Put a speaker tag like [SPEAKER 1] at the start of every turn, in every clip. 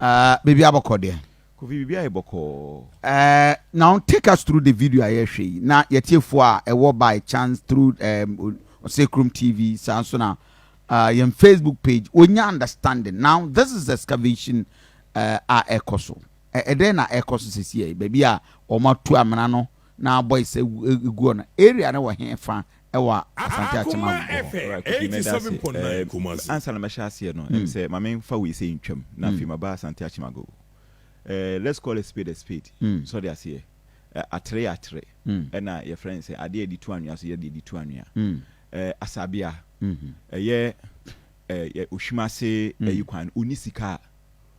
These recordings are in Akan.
[SPEAKER 1] Ɛɛ biribi abɔkɔ deɛ. Kofi biribi ayɛ bɔkɔɔ. Ɛɛ now take us through the video a yɛhwɛ yi na yɛtiefo a ɛwɔ by chance through ɛɛm Osekrom TV saa nso na ɛɛ yɛn Facebook page wɔnya understanding now this is excavation ɛɛ a ɛkɔ so ɛdɛn na ɛkɔ so sisi yɛ baabi a wɔatu amena no. na abɔ ese guɔ no area no wɔ he fa wɔ Asante Akyem Agogo hɔ? Ora Kofi mɛda ase ɛɛ
[SPEAKER 2] ansa na mɛhyɛ aseɛ no
[SPEAKER 3] ɛm sɛ ma me nfa wei sei ntwam na afei maba Asante Akyem Agogo ɛɛ let's call a spade a spade sɔ de aseɛ ɛɛ atere yɛ atere ɛna yɛfrɛ no sɛ adeɛ a yɛde tu anwea so yɛ deɛ yɛde tu anwea ɛɛ Asabea ɛyɛ ɛɛ Ohwim ase ɛyi kwan no ɔnni sika a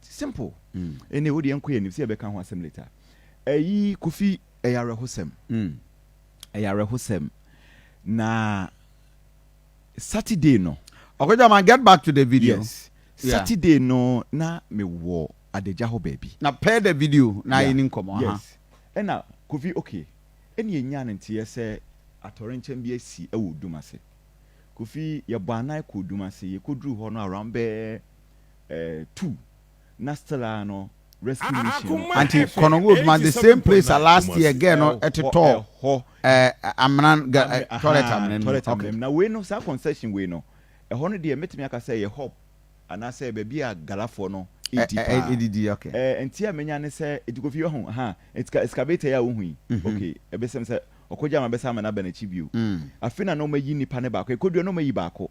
[SPEAKER 3] Simple. Anyway, wo deɛ nkɔ yɛn anim sɛ yɛbɛka ho asɛm later. Ɛyi Kofi, ɛyɛ awerɛhosɛm. Ɛyɛ awerɛhosɛm. Na Saturday no. Ɔkɔgyaman, get back
[SPEAKER 1] to the video. Yes. Saturday
[SPEAKER 3] no na me wɔ adagya hɔ baabi. Na pɛ the video na
[SPEAKER 1] ayɛ ni nkɔmɔ. Aha. Yes. Ɛna
[SPEAKER 3] Kofi, okay, ɛna yɛnyaa no nteɛ sɛ atɔrenkyɛm bi asi wɔ Odum ase. Kofi, yɛbɔ anan kɔɔ Odum ase. Yɛkɔduruu hɔ no around bɛɛ two na still ara no rescue mission no ɛkɔ anti kɔnɔ wo
[SPEAKER 1] ma the same place a last year girl no ɛtotɔ hɔ amena toilet amena mu toilet amena mu na wei no saa
[SPEAKER 3] concession wei no ɛhɔ no deɛ mɛtumi aka sɛ yɛ hub anaasɛ baabi a galafoɔ no ɛdi paa ɛdidi ok
[SPEAKER 1] ɛnti a menya ne
[SPEAKER 3] sɛ ɛti kofi yɛ ho ha ɛti excavator yɛ a wohu yi ok ɛbɛsɛm sɛ ɔkɔgya ma bɛsa ama no aba n'akyi bio afei na na ɔmayi nipa ne baako ɛkɔdua na ɔmayi baako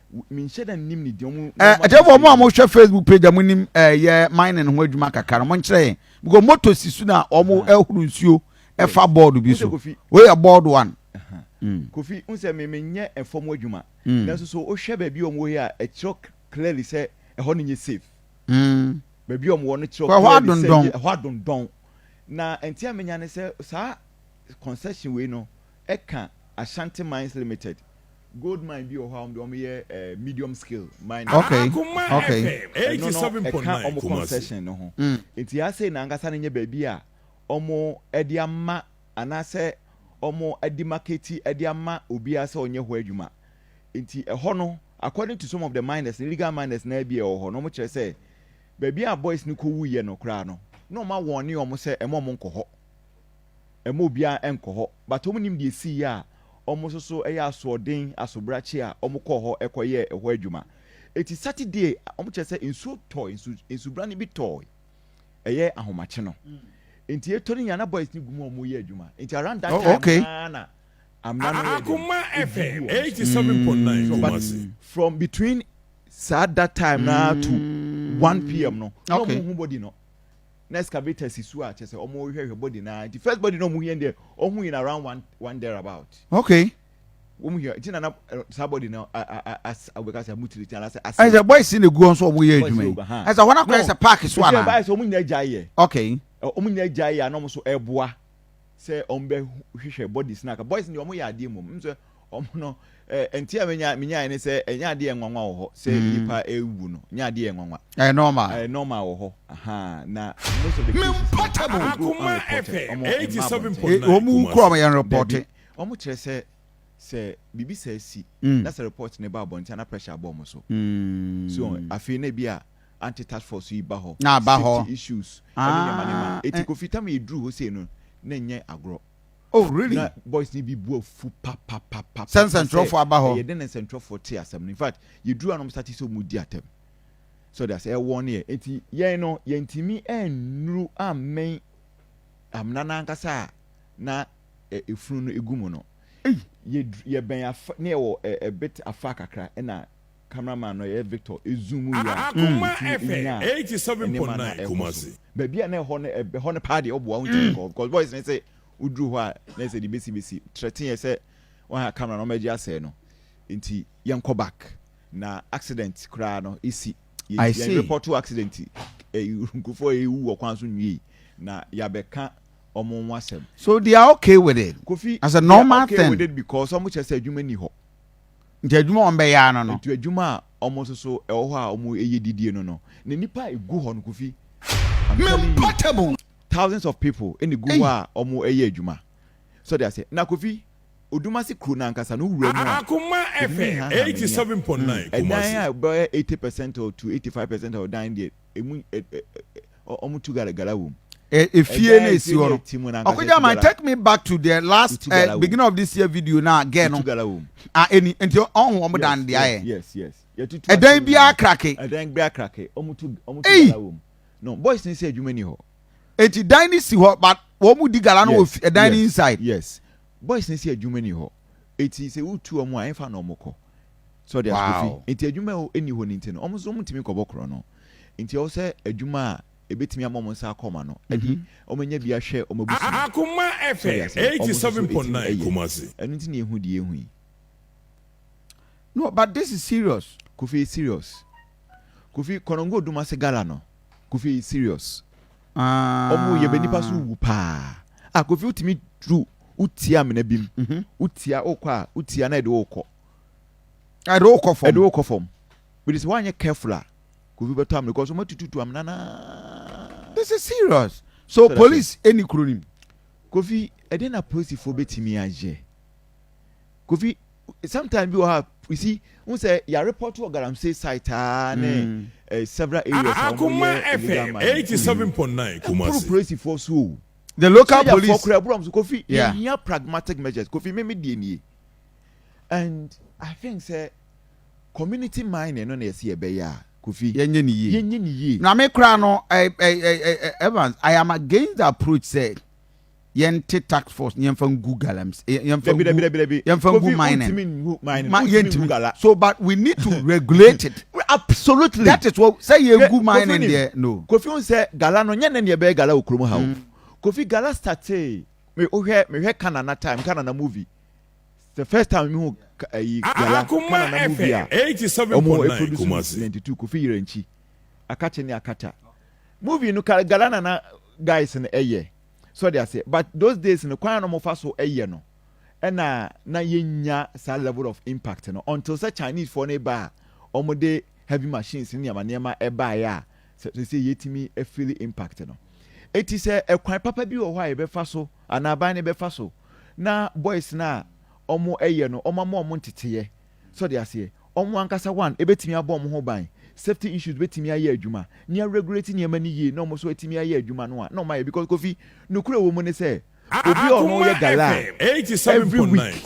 [SPEAKER 1] Eh,
[SPEAKER 3] ɛdɛfo ɔmo a mohwɛ
[SPEAKER 1] facebook page a monim ɛyɛ eh, mining ho adwuma kakra no monkyerɛ yɛn because moto si so na ɔmo ɛhoro nsuo ɛfa bɔɔdo bi so woyɛ bɔɔdo one mm. kofi
[SPEAKER 3] n sɛ memenyɛ ɛfam adwuma mm. nanso so wohwɛ baabi ɔmo yi a ɛkyerɛ clearly sɛ ɛhɔ no nyɛ safe mm. baabi ɔmo wɔ no kyerɛ clearly sɛ ɛhɔ adondɔn na ɛnti a menya ne sɛ saa concession wei no ɛka Ashanti Mines Limited gold mine bi wɔ hɔ a wɔn deɛ wɔn yɛ eh, medium scale mining. Okay, Akoma okay.
[SPEAKER 1] FM ɛno no eighty seven point ɛka
[SPEAKER 2] nine wɔn Kumasi. concession no ho
[SPEAKER 3] Mm. nti asei na ankasa no nyɛ baabi a wɔn de ama anaasɛ wɔn de maketi de ama obiara sɛ ɔnyɛ hɔ adwuma nti ɛhɔ no according to some of the miners no illegal miners na bi a ɛwɔ hɔ no wɔn kyerɛ sɛ baabi a boys no kɔ wuiɛ no koraa no na wɔn awɔne wɔn sɛ ɛma wɔn nkɔ hɔ ɛmma obiara nkɔ hɔ, but wɔn nim deɛ ɛsii yɛ a wɔn nso so yɛ asoɔden asobrakye a wɔn kɔɔ hɔ kɔ yɛɛ ɛhɔ adwuma. Ɛti Saturday wɔn kyerɛ sɛ nsuo tɔɔe, nsu nsubrane bi tɔɔe, ɛyɛ ahomakye no, nti ɛtɔ no nyinaa na boys no gu mu a wɔn reyɛ adwuma, nti around that time okay. no ara na amena no yɛ
[SPEAKER 2] dɛn, ɛdi gu wɔn so. So but from between
[SPEAKER 3] saa that time no ara to one pm no na wɔn nhu body no. na excavator si so a kyerɛ sɛ ɔmo hwɛ hwɛ body naa nti first body na ɔmo hia deɛ ɔho in around one one there about. Okay.
[SPEAKER 1] Wɔn hia
[SPEAKER 3] nti na na saa body na as ɔbɛka sɛ mutiri ti anaasɛ ase. Ɛsɛ boys na egu nso
[SPEAKER 1] ɔmo yɛ adwuma yi ɛsɛ hɔn akɔyɛ sɛ park so ana. Ɛsɛ ɛsɛ ɔmo nyinaa gya yɛ.
[SPEAKER 3] Okay. Ɔmo
[SPEAKER 1] nyinaa gya yɛ
[SPEAKER 3] a na ɔmo so ɛboa sɛ ɔmo bɛ hwehwɛ bodies na aka boys ni ɔmo yɛ adeɛ mmom nsɛ Wɔn no, eh, nti a menya menyae ne sɛ ɛnyɛ adeɛ yɛ nwanwa wɔ hɔ sɛ mm. nipa ewu no nyɛ adeɛ yɛ nwanwa. ɛyɛ normal ɛyɛ normal wɔ hɔ ahan na most of the cases
[SPEAKER 2] no wɔn go unreported wɔn mma abɔnten wɔn mu kura wɔn yɛn
[SPEAKER 1] reporte. wɔn kyerɛ sɛ
[SPEAKER 3] sɛ biribi sɛ si mm. na sɛ report ne ba abɔnten na pressure abɔ wɔn so mm. so afei na ebi a anti task force yi ba hɔ safety issues
[SPEAKER 1] ɛne nneɛma nneɛma
[SPEAKER 3] ah, eti eh. kofi tam yɛ duru hɔ sei no na nyɛ agorɔ. Oh really? Na
[SPEAKER 1] boys ni bi bu
[SPEAKER 3] afu papapapa. Sɛ nsɛntwerɛfoɔ
[SPEAKER 1] aba hɔ. Ɛyɛ dɛn na nsɛntwerɛfoɔ
[SPEAKER 3] te asɛm no in fact yɛduru a na wɔn starte sɛ wɔn di atɛm so de asɛ ɛwɔ ne yɛ eti yɛn no yɛntumi ɛnnuru ammɛn amena no ankasa a na efunu no egu mu no yɛbɛn afa ne ɛwɔ ɛbet afa kakra ɛna cameraman no yɛ Victor ezoom yɛ a akoma
[SPEAKER 2] ɛfɛ eighty seven point nine Kumasi baabi a na ɛhɔ no
[SPEAKER 3] ɛhɔ no paa deɛ ɔboa ɔntumi mm. nkɔ because boys ne sɛ woduru hɔ a na ɛsɛ de besi besi trɛtin yɛ sɛ wɔn a camera no wɔn agye asɛe no nti yɛn kɔ back na accident koraa no esi yɛn report to accident ɛyi eh, nkurɔfoɔ yɛ ewu wɔ kwan so nwie na yabɛka wɔn ho asɛm. so they are okay
[SPEAKER 1] with it. kofi as a normal thing.
[SPEAKER 3] they are
[SPEAKER 1] okay with it because
[SPEAKER 3] wɔn kyerɛ
[SPEAKER 1] sɛ
[SPEAKER 3] adwuma ni hɔ. Nti adwuma a
[SPEAKER 1] wɔbɛyɛ ara no no. Nti adwuma a wɔn
[SPEAKER 3] nso so ɛwɔ hɔ a wɔyɛ didie no no. Na nnipa a ɛgu hɔ no Kofi, I'm telling
[SPEAKER 1] you, thousands of
[SPEAKER 3] people na ɛgu hɔ a wɔyɛ adwuma. So ɔde ase. Na Kofi, Odumase kuro no ankasa no wura mu a, Kofi menhanha
[SPEAKER 2] m'ani a. Ɛdan a ɛbɛyɛ
[SPEAKER 3] eighty percent or to eighty five percent of dan deɛ, emu ɛ ɛ ɛ wɔn tu gara gara wɔ mu. ɛ efie na esi
[SPEAKER 1] hɔ no ɔkɔgya man take me back to the last ɛ eh, beginning of this year video na gɛɛ no a ɛni nti ɔho wɔn dan de ayɛ
[SPEAKER 3] ɛdan biara
[SPEAKER 1] krake ɛdan biara krake wɔn
[SPEAKER 3] tu wɔn tu gara wɔ mu no boys ni sɛ adwuma ni hɔ eti dan ni
[SPEAKER 1] si hɔ but wɔn di gara no wɔ ɛdan ni inside yes boys
[SPEAKER 3] ni sɛ adwuma ni hɔ. eti sɛ wotu wɔn a ɛfa na wɔkɔ sɛ ɔde asukuufi nti adwuma a ɛni hɔ no nti no wɔn nso wɔntumi nkɔbɔ korɔ no nti ɛwɔ sɛ adwuma a ɛbɛtumi ama wɔn nsa akɔ ma no ɛde wɔn anya bi ahwɛ wɔn abusua Akoma
[SPEAKER 2] FM 87.9 Kumasi. ɛno nti na yɛhu deɛ yɛhu
[SPEAKER 3] yi. No,
[SPEAKER 1] but this is serious. Kofi serious.
[SPEAKER 3] Kofi kɔnɔngo odum ase gala no. Kofi eyi serious ɔmo yɛ bɛ nipa so wu paa ah Kofi wotumi duru wotia amena bi mu mhm. wotia wokɔ a wotia na ɛde wokɔ ɛde wokɔ fam ɛde wokɔ fam bɛde sɛ woanyɛ careful a Kofi bɛtɔ amena because ɔmo atututu amena naa this is serious
[SPEAKER 1] so police ɛni kuro nim Kofi
[SPEAKER 3] ɛde na polisifoɔ bɛtumi ayɛ Kofi, sometime bi wɔ ha, you see, n sɛ yɛ report wɔ galamsey site aa ne eh, several areas a wɔn yɛ illegal mining
[SPEAKER 2] kuro yi. Ɛmporo polisifoɔ so o.
[SPEAKER 3] The local Sojafoɔ
[SPEAKER 1] police. kura ɛboro wɔn so. Kofi, yɛ
[SPEAKER 3] Yeah. hia pragmatic measures. Kofi, me me deɛ nie. And I think sɛ community mining no na yɛsi yɛ bɛyɛ a, Kofi, Yɛnyɛ ne yie. yɛnyɛ
[SPEAKER 1] ne yie. Na me koraa no, eh, eh, eh, eh, eh, Evans, I am against the approach sɛ yɛnte tax force ne yɛmfa ngu galams eh, yɛmfa ngu yɛmfa ngu mining yɛntumi so but we need to regulate it absolutely that
[SPEAKER 3] is what sɛ
[SPEAKER 1] yɛgu mining deɛ no kofi n sɛ gala no
[SPEAKER 3] nyɛ ne neɛ bɛyɛ gala wɔ kurom ha o mm. kofi gala statee me wohwɛ mehwɛ kanana time kanana movie the first time mi hu ayi gala kanana
[SPEAKER 2] movie a ɔmo eproduce ninety two kofi yɛrɛ nkyi
[SPEAKER 3] akakye ne akata movie no gala nana guys no ɛyɛ. So ɔde aseɛ? But those days no kwan a na wɔfa so yɛ no ɛna na yɛnnya saa level of impact no until sɛ Chinese foɔ no ba a wɔde heavy machines ne nneɛma nneɛma baeɛ a sɛ sɛ yɛtumi feel impact no. Eti sɛ ɛkwan papa bi wɔ hɔ a yɛbɛfa so anaa aban no bɛfa so na boys no a wɔyɛ no wɔama wɔn nteteeɛ So ɔde aseɛ? Wɔn ankasa one ɛbɛtumi abɔ wɔn ho ban? Safety issues bɛtumi ayɛ adwuma? Ni a regulate nneɛma no yie na wɔn nso atumi ayɛ adwuma no a na wɔn ayɛ because Kofi nokorɛ wɔ mu ne sɛ obi a ɔno yɛ gala a every week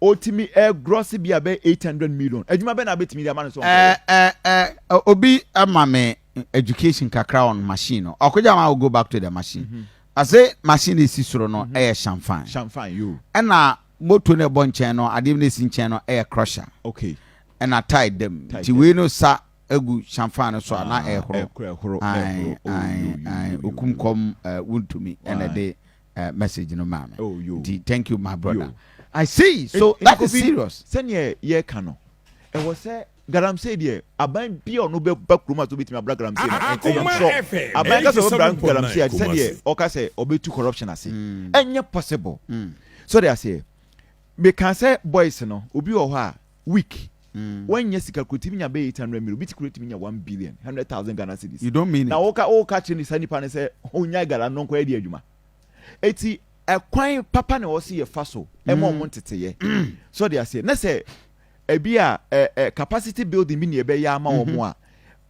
[SPEAKER 2] ɔtumi
[SPEAKER 3] gross bi a bɛyɛ eight hundred million adwuma bɛn na abɛtumi de ama no sɛ wɔn kɔyɛ. Ɛɛ ɛɛ ɛɛ
[SPEAKER 1] obi ama me education kakra on machine no ɔkɔgya wɔn a wɔ go back to the machine ɔse machine esi soro no ɛyɛ shanfan shanfan yoo ɛna.
[SPEAKER 3] Moto
[SPEAKER 1] no ɛbɔ nkyɛn no adeɛ no ɛsi nkyɛn no ɛyɛ crusher okay
[SPEAKER 3] ɛna tae
[SPEAKER 1] dam nti wei no sa agu shanfan no so a na ɛhoro ae ae ae okum kɔm wontumi ɛna ɛde message no maa me nti thank you my brother I see so that is serious. Sɛdeɛ yɛka no
[SPEAKER 3] ɛwɔ sɛ Galamsey deɛ aban bia ɔno bɛ ba kurom ase obetumi abra galamsey no ɛn ɛyɛ absɔ aban kasa obra galamsey a tisɛ deɛ ɔka sɛ ɔbetu corruption ase ɛnyɛ possible so ɔde aseɛ meka sɛ boys no obi wɔ hɔ a week wanya sika kura timi nya bɛ eight hundred million obi ti kura timi nya one billion hundred thousand Ghana cedis you don't mean it na woka
[SPEAKER 1] woka kyerɛ ne saa
[SPEAKER 3] nipa no sɛ onyae galam no nkɔyɛ de adwuma eti ɛkwan papa na ɔsi yɛ fa so ɛma ɔmo nteteyɛ so ɔde aseɛ ne sɛ Ebia ɛ ɛ capacity building bi na yɛbɛyɛ ama wɔn a,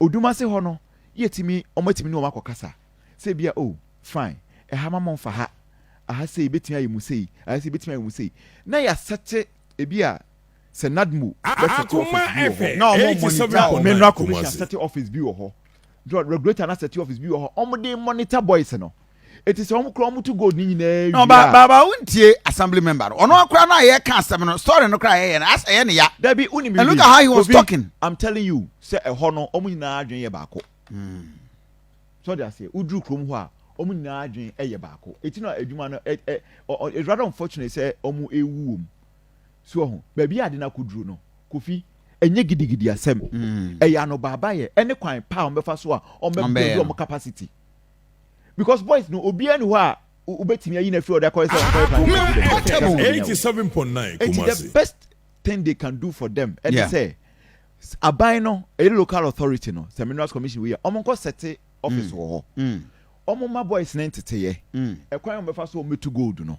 [SPEAKER 3] odum ase hɔ no, yɛtumi, wɔatumi ne wɔn akɔkasa. Sɛ ebia, oh, fine, ɛha ma momfa ha, aha sei, ebetumi ayɛ mu sei, aha sei, ebetumi ayɛ mu sei. Na yɛasɛte, ebia sɛ NADMO bɛsɛte office
[SPEAKER 2] bi wɔ hɔ, na wɔn monitor,
[SPEAKER 3] Menra Kumasi, asɛte office bi wɔ hɔ, John, regulator na sɛte office bi wɔ hɔ wɔn de monitor boys no. Eti sɛ wɔn kura wɔn to gold ne nyinaa wie a. Ba ba ba wontie
[SPEAKER 1] assembly member no. Ɔno akora no a yɛka asɛm no story no kora a yɛyɛ no as ɛyɛ ne ya. Dabi wonim biribi. And look at
[SPEAKER 3] how he was talking.
[SPEAKER 1] I'm telling you sɛ
[SPEAKER 3] ɛhɔ no wɔn nyinaa adwene yɛ baako. Mm. So de aseɛ woduru kurom hɔ a wɔn nyinaa adwene yɛ baako. Eti na adwuma no ɛ ɛ it's rather unfortunate sɛ wɔn ewu wɔm. So wahu baabi a ade no akoduru no? Kofi, ɛnyɛ gidigidi asɛm. Mm. Ɛyɛ anobaabayɛ ɛne kwan pa a wɔbɛfa so a wɔbɛbuild wɔn capacity. Because boys no obiara ni hɔ a wobɛtumi ayi no afiri ɔde akɔyɛ sɛ wɔnkɔyɛ planning for student. That's how we know. 87.9 Enti the
[SPEAKER 2] Kumasi. best
[SPEAKER 3] thing they can do for them ɛne Yeah. sɛ s- aban no ɛyɛ local authority no sɛ minerals commission wei a wɔn nkɔ sɛte office wɔ hɔ Mm. wɔn ma boys ne nteteyɛ Mm. ɛkwan a wɔbɛfa so wɔn bɛtu gold no